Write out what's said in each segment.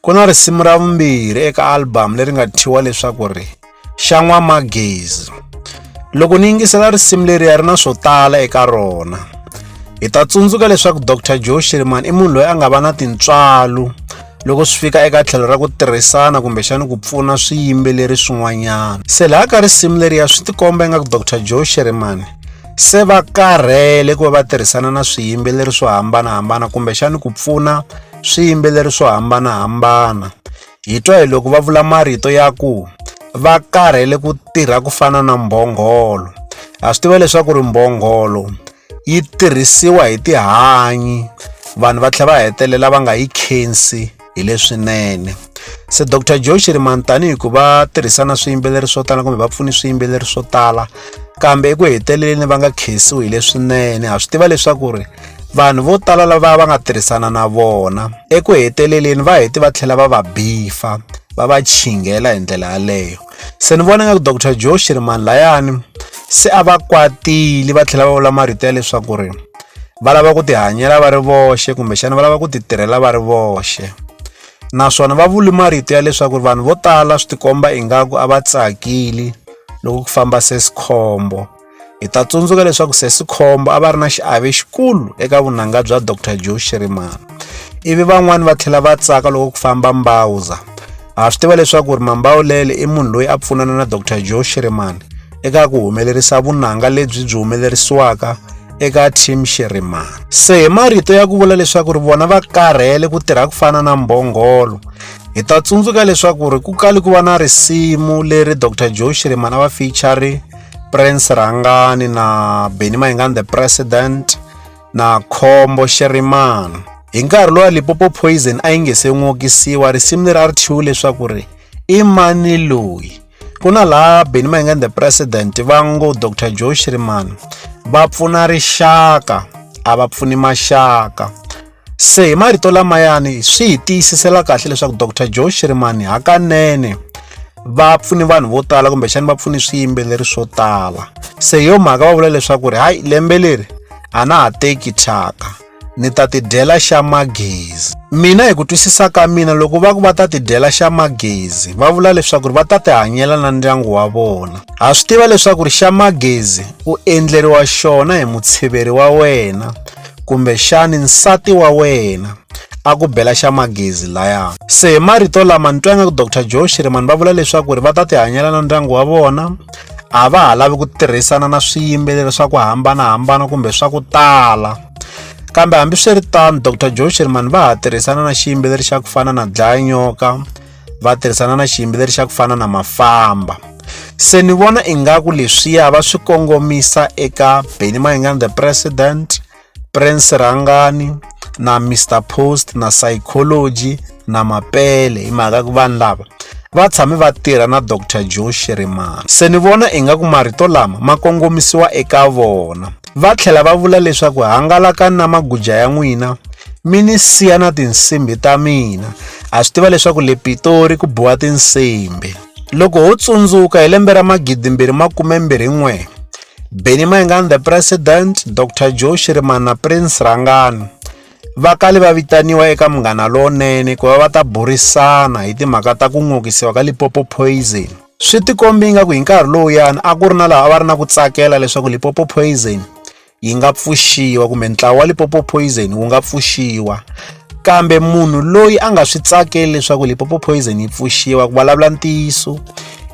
ku na risimu ra vumbirhi eka albhamu leri nga thyiwa leswaku ri xa n'wamagezi loko ni yingisela risimu leriya ri na swo tala eka rona hi ta tsundzuka leswaku dr joe shirman i munhu loyi a nga va na tintswalo loko swi fika eka tlhelo ra ku tirhisana kumbexani ku pfuna swiyimbeleri swin'wanyana se laha ka risimu leriya swi tikomba ingaku dr joe sherimani se va karhele ku va va tirhisana na swiyimbeleri swo hambanahambana kumbexani ku pfuna swiyimbeleri swo hambanahambana. Hi twa hi loko va vula marito ya ku va karhele ku tirha ku fana na mbhongolo. Ha swi tiva leswaku ri mbhongolo yi tirhisiwa hi tihanyi vanhu va tlhela va hetelela va nga yi khensi hi leswinene se dr joe shirimani tanihi ku va tirhisana swiyimbeleri swo tala kumbe va pfuni swiyimbeleri swo tala kambe eku heteleleni va nga khensiwi hi leswinene ha swi tiva leswaku ri vanhu vo tala lava va nga tirhisana na vona eku heteleleni va heti va tlhela va va bifa va va chinghela hi ndlela yaleyo se ni vona nga ku dr joe shirimani layani se a va kwatile va tlhela va vula marito ya leswaku ri va lava ku tihanyela va ri voxe kumbexana va lava ku titirhela va ri voxe naswona va vuli marito ya leswaku ri vanhu vo tala swi tikomba ingaku a va tsakili loko ku famba se sikhombo Hi ta tsundzuka leswaku Sesi Khombo a va ri na xiave xikulu eka vunanga bya Dr Joe Shirimana ivi van'wani va tlhela va tsaka loko ku famba mbawuza ha swi tiva leswaku ri mambawulele i munhu loyi a pfunana na Dr Joe Shirimana eka ku humelerisa vunanga lebyi byi humelerisiwaka eka team Shirimana se hi marito ya ku vula leswaku ri vona va karhele ku tirha ku fana na mbhongolo hi ta tsundzuka leswaku ri ku kali ku va na risimu leri Dr Joe Shirimana va feature prince rhangani na benny mayingani the president na khombo xerimana hi nkarhi lowa lipopo poison a yi nge se n'wokisiwa risimu leri a ri thyiwe leswaku ri i mani loyi ku na laha benny mayingani the president va ngo dr joe xerimana va pfuna rixaka a va pfuni maxaka Se hi marito lamayani swi hi tiyisisela kahle leswaku Dr Joe Shirimani hakanene va pfune vanhu vo tala kumbexani va pfune swiyimbeleri swo tala se yo mhaka va vula leswaku ri hayi lembe leri a na ha teki thyaka ni ta tidyela xa magezi mina hi ku twisisa ka mina loko va ku va ta tidyela xa magezi va vula leswaku ri va ta tihanyela na ndyangu wa vona ha swi tiva leswaku ri xa magezi u endleriwa xona hi mutshiveri wa wena kumbe xani nsati wa wena a ku bela xa magezi laya se hi marito lama ni twa ingaku dr joe shirimani va vula leswaku ri va ta tihanyela na ndyangu wa vona a va ha lavi ku tirhisana na swiyimbeleri swa ku hambanahambana kumbe swa ku tala kambe hambiswiritano dr joe shirimani va ha tirhisana na xiyimbeleri xa ku fana na dlaya nyoka va tirhisana na xiyimbeleri xa ku fana na mafamba se ni vona ingaku leswiya va swi kongomisa eka benny mayingani the president prince rhangani na mr post na psychology na mapele hi mhaka ku vanhu lava va tshame va tirha na dr joe shirimani se ni vona ingaku marito lama ma kongomisiwa eka vona Va tlhela va vula leswaku hangalaka na maguja ya n'wina mi ni siya na tinsimbi ta mina ha swi tiva leswaku le pitori ku biwa tinsimbi loko ho tsundzuka hi lembe ra magidimbirhi makumembirhi n'we beni mayingani the president dr joe shirimana prince rangani va kale va vitaniwa eka munghana lowunene ku va va ta burisana hi timhaka ta ku n'okisiwa ka lipopo poison Swi tikombe ingaku hi nkarhi lowuyani a ku ri na lava a va ri na ku tsakela leswaku Limpopo Poison yi nga pfuxiwa kumbe ntlawa wa Limpopo Poison wu nga pfuxiwa kambe munhu loyi a nga swi tsakeli leswaku Limpopo Poison yi pfuxiwa ku vulavula ntiyiso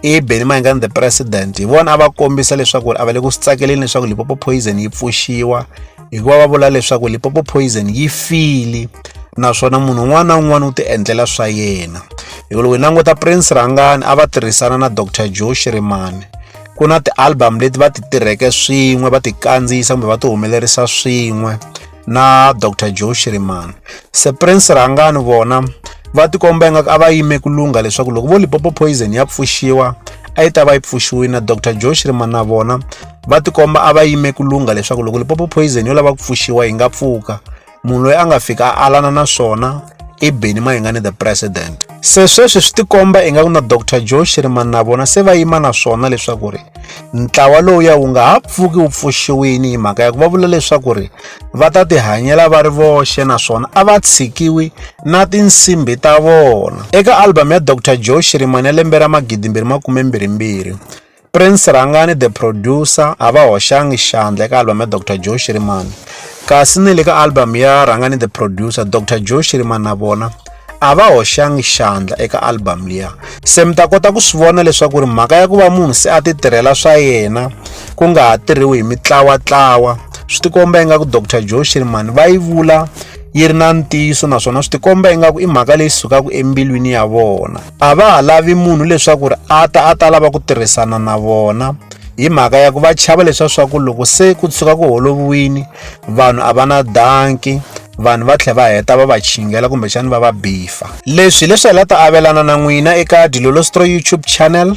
i Benny Mayengani the president hi vona a va kombisa leswaku a va le ku swi tsakeleni leswaku Limpopo Poison yi pfuxiwa hikuva va vula leswaku lipopo poison yi file naswona munhu un'wana na un'wana u tiendlela swa yena hikuva loko hi languta prince rhangani a va tirhisana na dr joe shirimani ku na ti-album leti va ti tirheke swin'we va ti kandziyisa kumbe va ti humelerisa swin'we na dr joe shirimani se prince rhangani vona va tikomba ingaku a va yime ku lungha leswaku loko vo lipopo poison ya pfuxiwa a yi ta va yi pfuxiwile na dr joe shirimani na vona va tikomba a va yime ku lungha leswaku loko lipopo poison yo lava ku pfuxiwa yi nga pfuka munhu loyi a nga fika a alana na swona i beni mayingani the president se sweswi swi tikomba ingaku na dr joe shirimani na vona se va yima na swona leswaku ri ntlawa lowuya wu nga ha pfuki wu pfuxiwini hi mhaka ya ku va vula leswaku ri va ta tihanyela va ri voxe naswona a va tshikiwi na tinsimbi ta vona eka albhamu ya dr joe shirimani ya lembe ra magidimbirhi makume mbirhimbirhi Prince Rhangani the producer a va hoxanga xandla eka album ya Dr Joe Shirimani kasi ni le ka album ya Rhangani the producer Dr Joe Shirimani na vona a va hoxanga xandla eka album liya se mi ta kota ku swi vona leswaku ri mhaka ya ku va munhu se a ti tirhela swa yena ku nga ha tirhiwi hi mitlawatlawa swi tikomba ingaku Dr Joe Shirimani va yi vula yi ri na ntiyiso naswona swi tikomba ingaku i mhaka leyi sukaka embilwini ya vona a va ha lavi munhu leswaku ri a ta a ta lava ku tirhisana na vona hi mhaka ya ku va chava leswa swa ku loko se ku tshuka ku holoviwini vanhu a va na danki vanhu va tlhela va heta va va chingela kumbexani va va bifa leswi leswi hi la ta avelana na n'wina eka dilolostro youtube channel